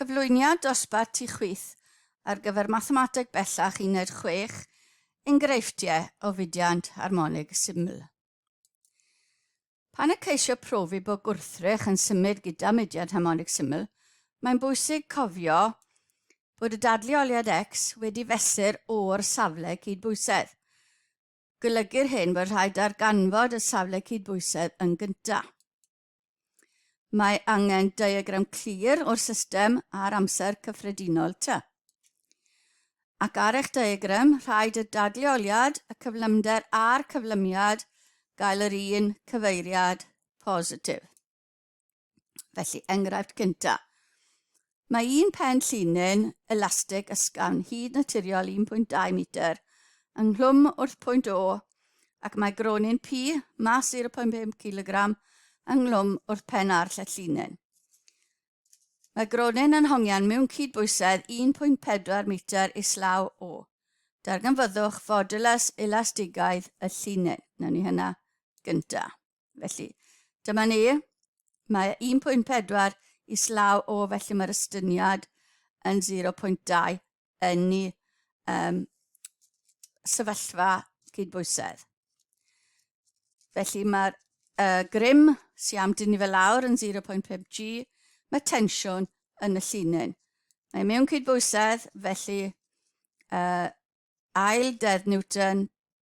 Cyflwyniad dosbarth ti chwith ar gyfer Mathemateg Bellach Uned 6, Enghreifftiau o fudiant harmonig syml. Pan y ceisio profi bod gwrthrych yn symud gyda mudiant harmonig syml, mae'n bwysig cofio bod y dadleoliad x wedi fesur o'r safle cydbwysedd. Golygu'r hyn bod rhaid darganfod y safle cydbwysedd yn gyntaf. Mae angen diagram clir o'r system a'r amser cyffredinol ty. Ac ar eich diagram, rhaid y dadleoliad, y cyflymder a'r cyflymiad gael yr un cyfeiriad positif. Felly, enghraifft cyntaf. Mae un pen llinyn elastig ysgafn hyd naturiol 1.2 metr ynghlwm wrth pwynt O ac mae gronyn P, mas 0.5 kg, ynghlwm wrth pen ar llet llinyn. Mae gronyn yn hongian mewn cydbwysedd 1.4 metr islaw O. Darganfyddwch fodulus elastigaidd y llinyn. Nawn ni hynna gyntaf. Felly, dyma ni. Mae 1.4 islaw o, felly mae'r ystyniad yn 0.2 yn ni um, sefyllfa cydbwysedd. Felly mae'r uh, grym sy'n am dynnu fel lawr yn 0.5 G, mae tensiwn yn y llinyn. Mae mewn cydbwysedd, felly uh, ail dedd Newton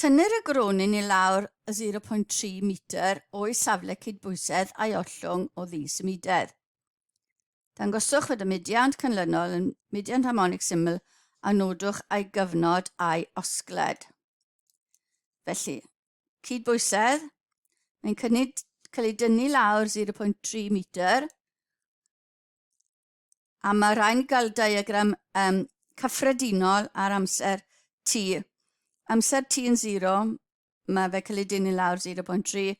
Tynnir y gronin i lawr y 0.3 metr o'i safle cydbwysedd a'i ollwng o ddisymudedd. Dangoswch fod y mudiant canlynol yn mudiant harmonig syml a nodwch a'i gyfnod a'i osgled. Felly, cydbwysedd, mae'n cynnig cael ei dynnu lawr 0.3 metr, a mae rhaid ni gael diagram um, cyffredinol ar amser T. Amser T yn 0, mae fe cael ei dynnu lawr 0.3.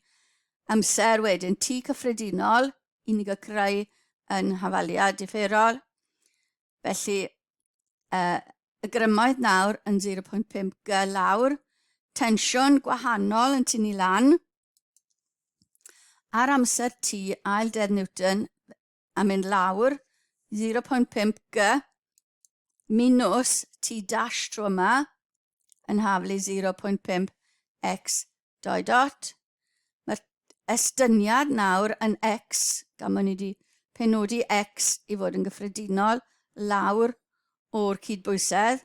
Amser wedyn T cyffredinol, i ni gael creu yn hafaliad differol. Felly, uh, y grymoedd nawr yn 0.5 g lawr, tensiwn gwahanol yn tynnu lan, ar amser T ail dedd Newton, a mynd lawr 0.5 g minws T dash tro yma yn haflu 0.5 x doi dot. Mae'r estyniad nawr yn x, gan bod ni wedi penodi x i fod yn gyffredinol lawr o'r cydbwysedd.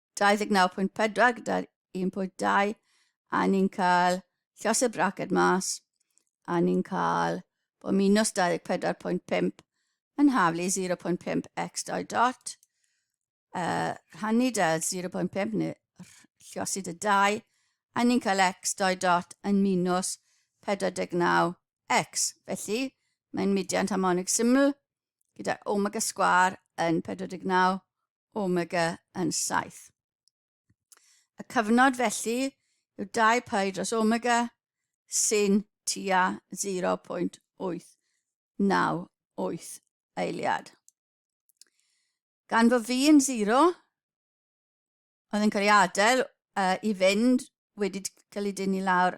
29.4 gyda'r 1.2 a ni'n cael llos y braced mas a ni'n cael bod minus 24.5 yn haflu 0.5 x dau dot uh, rhannu da 0.5 neu llosi dy dau a ni'n cael x dau dot yn minus 49 x felly mae'n mudiant harmonig syml gyda omega sgwar yn 49 omega yn saith. Y cyfnod felly yw dau pai dros omega sy'n tua 0.898 eiliad. Gan fod fi yn 0, oedd yn cael ei adael uh, i fynd wedi cael ei dynnu lawr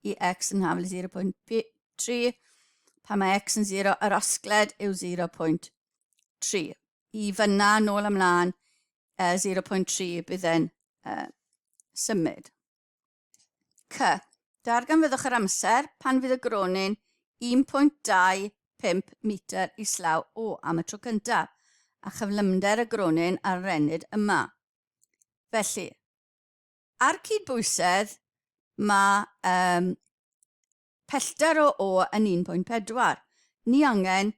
i x yn hafel 0.3 pan mae x yn 0 a'r osgled yw 0.3. i fyna, nôl ymlaen, uh, 0.3 bydd e'n uh, symud. C. Darganfyddwch yr amser pan fydd y gronyn 1.25 metr islaw o am y tro cyntaf a chyflymder y gronyn ar rennid yma. Felly, ar cyd bwysedd, mae um, Pellter o O yn 1.4, ni angen,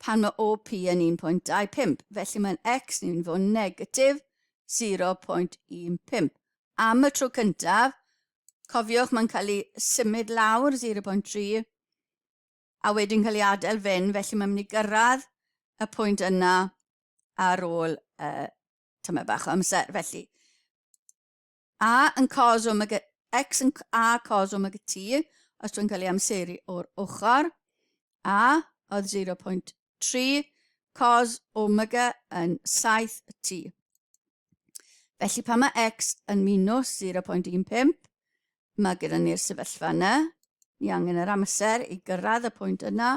pan mae OP yn 1.25, felly mae'n X ni'n mynd i fod yn negatif 0.15. Am y tro cyntaf, cofiwch mae'n cael ei symud lawr 0.3 a wedyn cael ei adael fyn, felly mae'n mynd i gyrraedd y pwynt yna ar ôl uh, tyma bach o amser. Felly, A yn cos omg x yn a cos omg t, os dwi'n cael ei amseru o'r ochr, a oedd 0.3 cos omg yn 7 t. Felly pan mae x yn minus 0.15, mae gyda ni'r sefyllfa yna. Ni angen yr amser i gyrraedd y pwynt yna.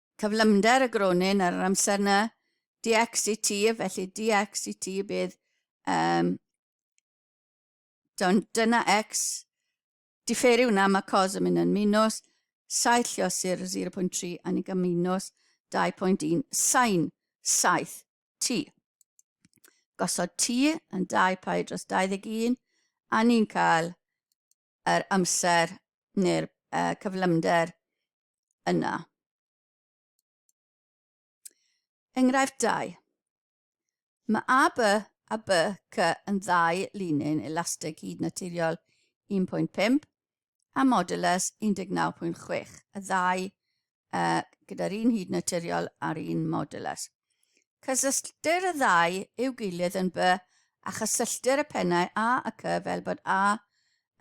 Cyflymder y gronyn ar yr amser na, dx i ti, felly dx i ti bydd um, Do'n dyna x, diferu hwnna, mae cos yn mynd yn minus, saith lliosur 0.3 a ni'n cael minus 2.1 sain 7 t. Gosod t yn 2 pi dros 21 a ni'n cael yr amser neu'r uh, cyflymder yna. Enghraifft 2. Mae A, B a B, C yn ddau linyn elastig hyd naturiol 1.5 a modulus 19.6, y ddau uh, gyda'r un hyd naturiol a'r un modulus. Cysylltir y ddau i'w gilydd yn by a chysylltir y pennau A a C fel bod A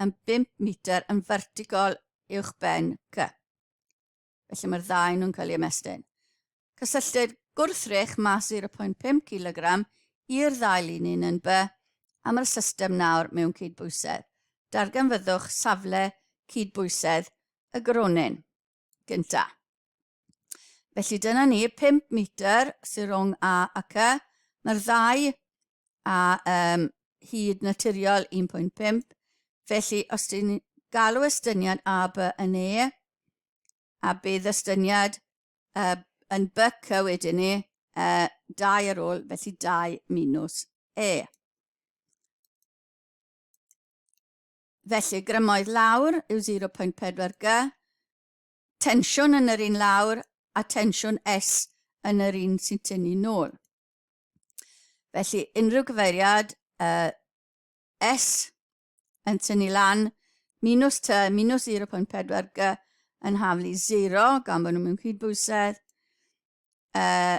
yn 5 metr yn fertigol uwch ben C. Felly mae'r ddau nhw'n cael ei ymestyn. Cysylltir gwrthrych mas 0.5 kg i'r ddau linyn yn by am yr system nawr mewn cydbwysedd. Darganfyddwch safle cydbwysedd y gronyn. gynta. Felly dyna ni, 5 metr sy'n rhwng A ac Y. Mae'r ddau a um, hyd naturiol 1.5. Felly os ti'n galw estyniad A, B yn E, a bydd estyniad uh, yn byc y wedyn ni, uh, dau ar ôl, felly dau minus E. Felly, grymoedd lawr yw 0.4 g, tensiwn yn yr un lawr a tensiwn S yn yr un sy'n tynnu nôl. Felly, unrhyw gyfeiriad uh, S yn tynnu lan minus T minus 0.4 g yn haflu 0 gan bod nhw mewn cydbwysedd. Uh,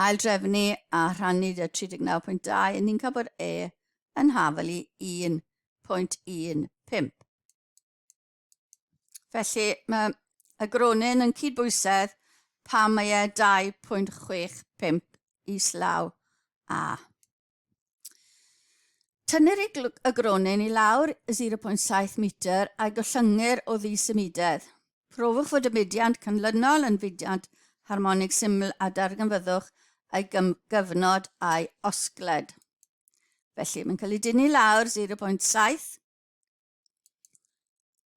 aildrefnu a rhannu y 39.2 yn ni'n cael bod E yn hafel i 1.15. Felly mae y gronyn yn cydbwysedd pan mae e 2.65 islaw A. Tynnir y, gl- y gronyn i lawr 0.7 metr a'i gollyngir o ddi symudedd. Profwch fod y mudiant canlynol yn fudiant harmonig syml a darganfyddwch ei gyfnod a'i osgled. Felly, mae'n cael ei dynnu lawr 0.7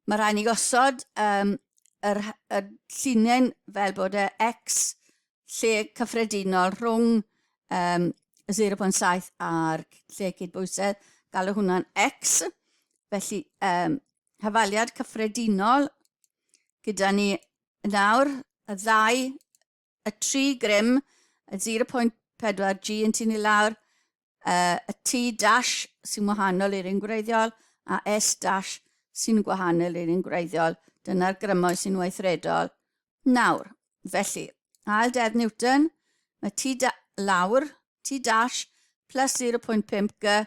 Mae rhaid ni gosod um, yr, y llinyn fel bod y X lle cyffredinol rhwng um, 0.7 a'r lle cydbwysedd, galw hwnna'n X. Felly, um, hafaliad cyffredinol gyda ni nawr y ddau y tri grym, y 0.4 G yn tynnu lawr, uh, y T dash sy'n wahanol i'r un gwreiddiol a S dash sy'n gwahanol i'r un gwreiddiol. Dyna'r grymoedd sy'n weithredol. Nawr, felly, ail deddf Newton, mae T lawr, T dash plus 0.5 G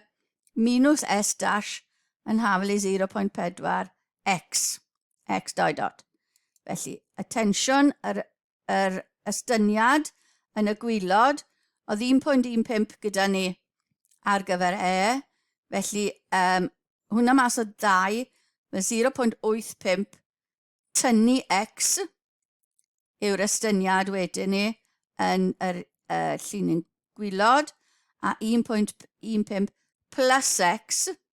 minus S dash yn hafel i 0.4 X. X dau dot. Felly, attention, yr, yr estyniad yn y gwylod, oedd 1.15 gyda ni ar gyfer E, felly um, hwnna mas o ddau, mae 0.85 tynnu X yw'r estyniad wedyn ni yn yr uh, llinyn gwylod, a 1.15 plus X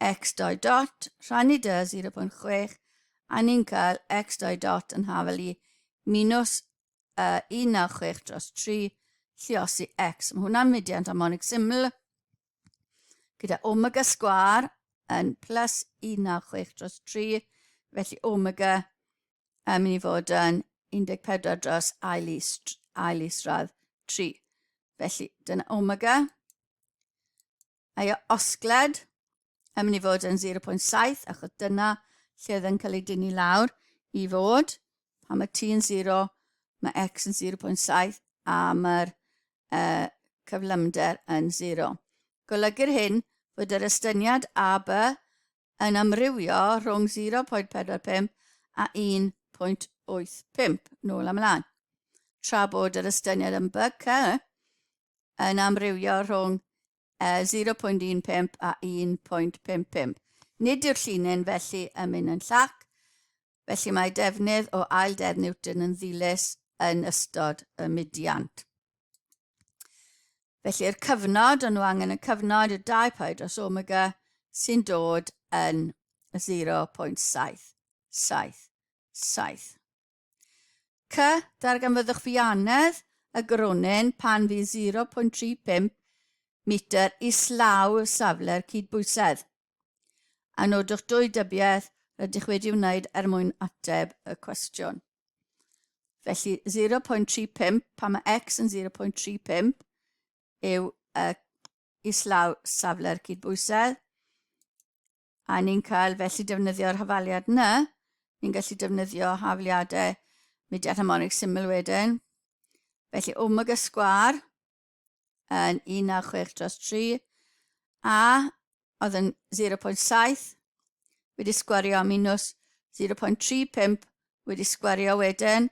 x dau dot, rhannu dy 0.6, a ni'n cael x dau dot yn hafel i minus uh, 196 dros 3, lliosi x. Mae hwnna'n mudiant harmonic syml gyda omega sgwar yn plus 196 dros 3, felly omega yn mynd i fod yn 14 dros ail is, ail isradd 3. Felly, dyna omega. Mae y osgled yn mynd i fod yn 0.7 achos dyna lle oedd yn cael ei dynnu lawr i fod. Pan mae t yn 0, mae x yn 0.7 a mae'r uh, cyflymder yn 0. Golygu'r hyn fod yr estyniad a b yn amrywio rhwng 0.45 a 1.85 nôl a mlaen, tra bod yr estyniad yn BK yn amrywio rhwng 0.15 a 1.55. Nid yw'r llinyn felly yn mynd yn llac, Felly mae defnydd o ail dedd Newton yn ddilys yn ystod y mudiant. Felly'r cyfnod, ond nhw angen y cyfnod, y dau pau dros omega sy'n dod yn 0.777. C. Darganfyddwch fianedd y gronyn pan fydd 0.35 metr islaw safle'r cydbwysedd. a nodwch dwy dybiaeth rydych wedi wneud er mwyn ateb y cwestiwn. Felly 0.35, pan mae x yn 0.35, yw uh, islaw safle'r cydbwysedd, a ni'n cael felly defnyddio'r hafaliad yna, ni'n gallu defnyddio hafliadau mudiad harmonig syml wedyn. Felly omega sgwar yn 16 dros 3 a oedd yn 0.7 wedi sgwario am minus 0.35 wedi sgwario wedyn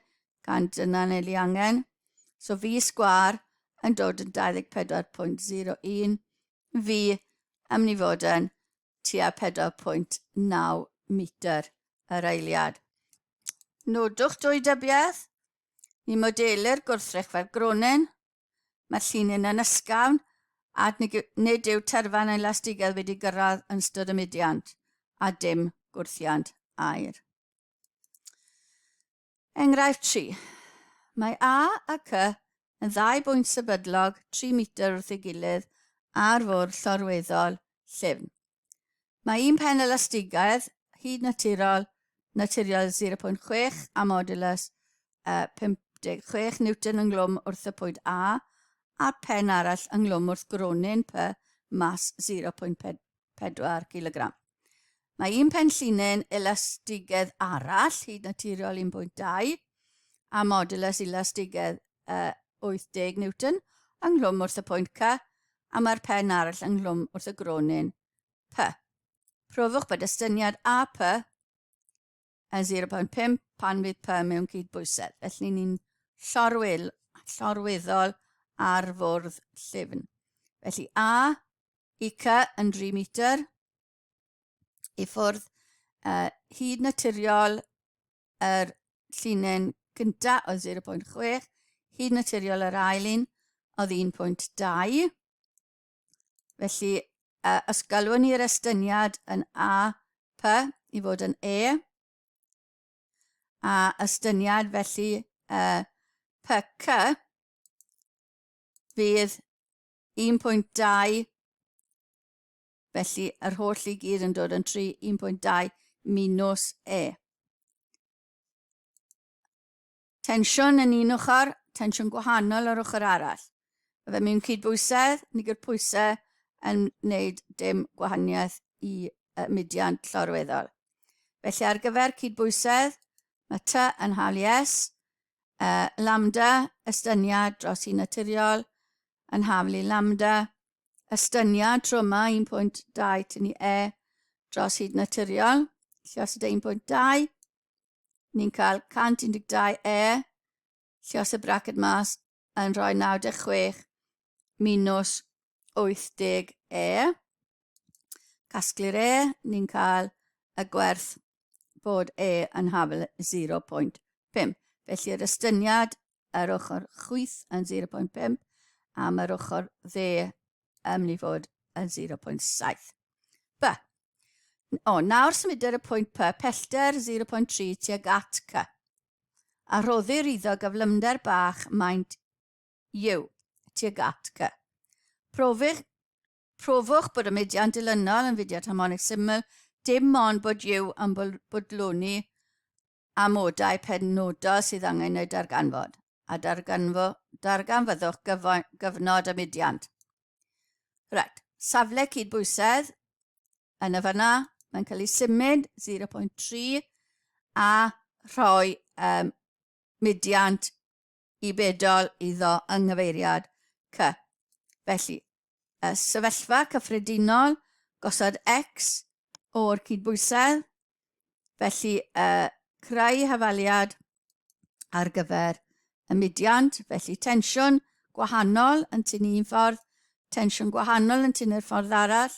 gan dyna neu li angen. So fi sgwar yn dod yn 24.01 fi am ni fod yn tua 4.9 metr yr eiliad. Nodwch dwy dybiaeth, ni modelu'r gwrthrych fel gronin Mae'r llinyn yn ysgafn ac nid yw terfan yn elastigedd wedi gyrraedd yn ystod y mudiant a dim gwrthiant aer. Enghraifft 3. Mae A a C yn ddau bwynt sefydlog 3 metr wrth ei gilydd ar fwrdd llorweddol llyfn. Mae un pen elastigaidd hyd naturol, naturiol 0.6 a modulus uh, 56 newton ynglwm wrth y pwyd A, a'r pen arall ynglwm wrth gronyn P, mas 0.4 kg. Mae un pen llinyn elastigedd arall hyd naturiol 1.2 a modulus elastigedd 80 Newton yng nghlwm wrth y pwynt Cy a mae'r pen arall yng nghlwm wrth y gronyn Py. Profwch bod estyniad AP yn 0.5 pan fydd Py mewn cydbwysedd, felly ni'n llorwyl, llorwyddol ar fwrdd llyfn. Felly A i Cy yn 3 metr i ffwrdd uh, hyd naturiol yr llinyn gynta oedd 0.6, hyd naturiol yr ail un oedd 1.2. Felly, uh, os galwyn ni'r estyniad yn A, P i fod yn E, a estyniad felly uh, P, C, fydd 1.2 Felly, yr holl i gyd yn dod yn 3, 1.2 minus E. Tensiwn yn un ochr, tensiwn gwahanol ar ochr arall. Mae fe mewn cydbwysedd, ni gyr pwysau yn wneud dim gwahaniaeth i uh, mudiant llorweddol. Felly ar gyfer cydbwysedd, mae T yn hal i S, uh, lambda, estyniad dros i naturiol, yn haflu lambda, estyniad tro yma 1.2 tynnu e dros hyd naturiol, lliosod e 1.2, ni'n cael 112 e, llios y braced mas yn rhoi 96 minus 80 e, casglu'r e, ni'n cael y gwerth bod e yn hafel 0.5. Felly yr estyniad yr ochr chwith yn 0.5 a mae'r ochr dde yn mynd i fod yn 0.7. B. O, nawr symuder y pwynt P pellter 0.3 tuag at C a rhoddir iddo gyflymder bach maint yw tuag at cy. Profych, profwch bod y mudiad dilynol yn fudiad harmonig syml, dim ond bod yw yn bodloni Amodau penodol sydd angen eu darganfod, a darganfo, darganfyddwch gyfo, gyfnod y mudiant. Right, safle cydbwysedd, yn y fanna, mae'n cael ei symud 0.3 a rhoi um, mudiant i bedol iddo yng nghyfeiriad cy. Felly, y sefyllfa cyffredinol, gosod X o'r cydbwysedd, felly y creu hafaliad ar gyfer y mudiant, felly tensiwn gwahanol yn tynnu un ffordd, tensiwn gwahanol yn tynnu'r ffordd arall,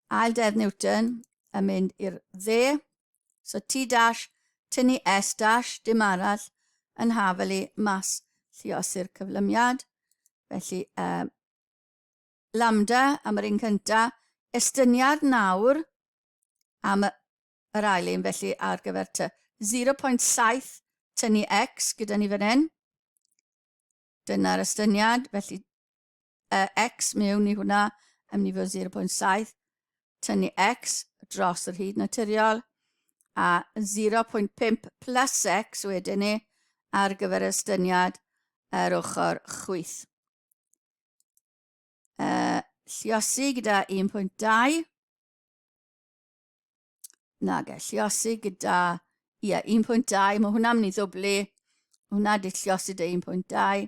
ail dedd Newton yn mynd i'r dde, So ti dash tynnu S dash dim arall yn hafelu mas lliosi'r cyflymiad. Felly, uh, lambda am yr un cynta, estyniad nawr am y yr ail un felly ar gyfer ty. 0.7 tynnu x gyda ni fan hyn. Dyna'r estyniad, felly uh, x mewn i hwnna yn mynd i fod 0.7, tynnu x dros yr hyd naturiol, a 0.5 plus x wedyn ni ar gyfer estyniad yr ochr chwyth. Uh, lliosi gyda 1.2, nage, lliosi gyda, ie, yeah, 1.2, mae hwnna'n mynd i ddwblu, hwnna di lliosi dy 1.2,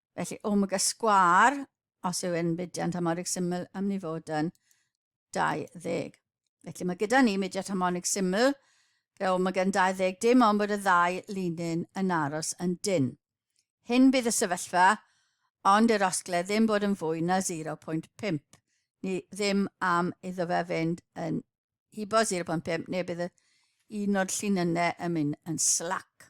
Felly, omega sgwar, os yw e'n fudiant harmonig syml, am ni fod yn 20. Felly mae gyda ni mudiant harmonig syml gyda omega yn 20, dim ond bod y ddau linyn yn aros yn dyn. Hyn bydd y sefyllfa, ond yr osgle ddim bod yn fwy na 0.5. Ni ddim am iddo fe fynd yn hibo 0.5 neu bydd un o'r llinynnau yn mynd yn slac.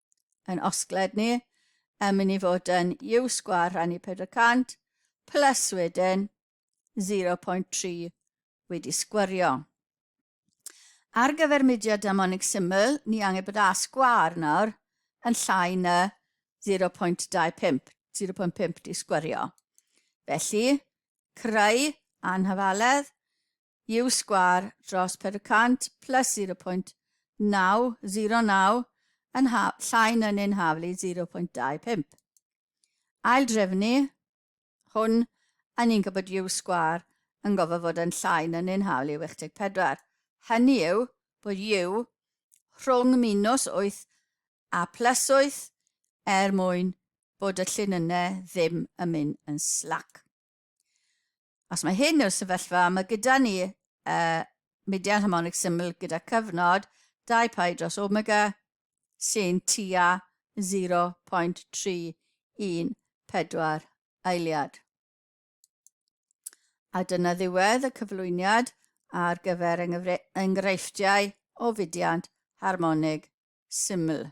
yn osgled ni, yn mynd i fod yn U sgwar rhannu 400, plus wedyn 0.3 wedi sgwario. Ar gyfer mudiad damonig syml, ni angen bod A sgwar nawr yn llai na 0.25, 0.5 di sgwario. Felly, creu anhafaledd yw sgwâr dros 400 plus 0.909 yn ha llai na neu'n haflu 0.25. Aildrefnu hwn a ni'n gwybod yw sgwâr yn gofod fod yn llai na neu'n haflu 84. Hynny yw bod yw rhwng minws 8 a plus 8 er mwyn bod y llun yne ddim yn mynd yn slac. Os mae hyn yw'r sefyllfa, mae gyda ni uh, mudiad harmonig syml gyda cyfnod 2 pi dros omega sy'n tua 0.314 eiliad. A dyna ddiwedd y cyflwyniad ar gyfer enghreifftiau o fudiant harmonig syml.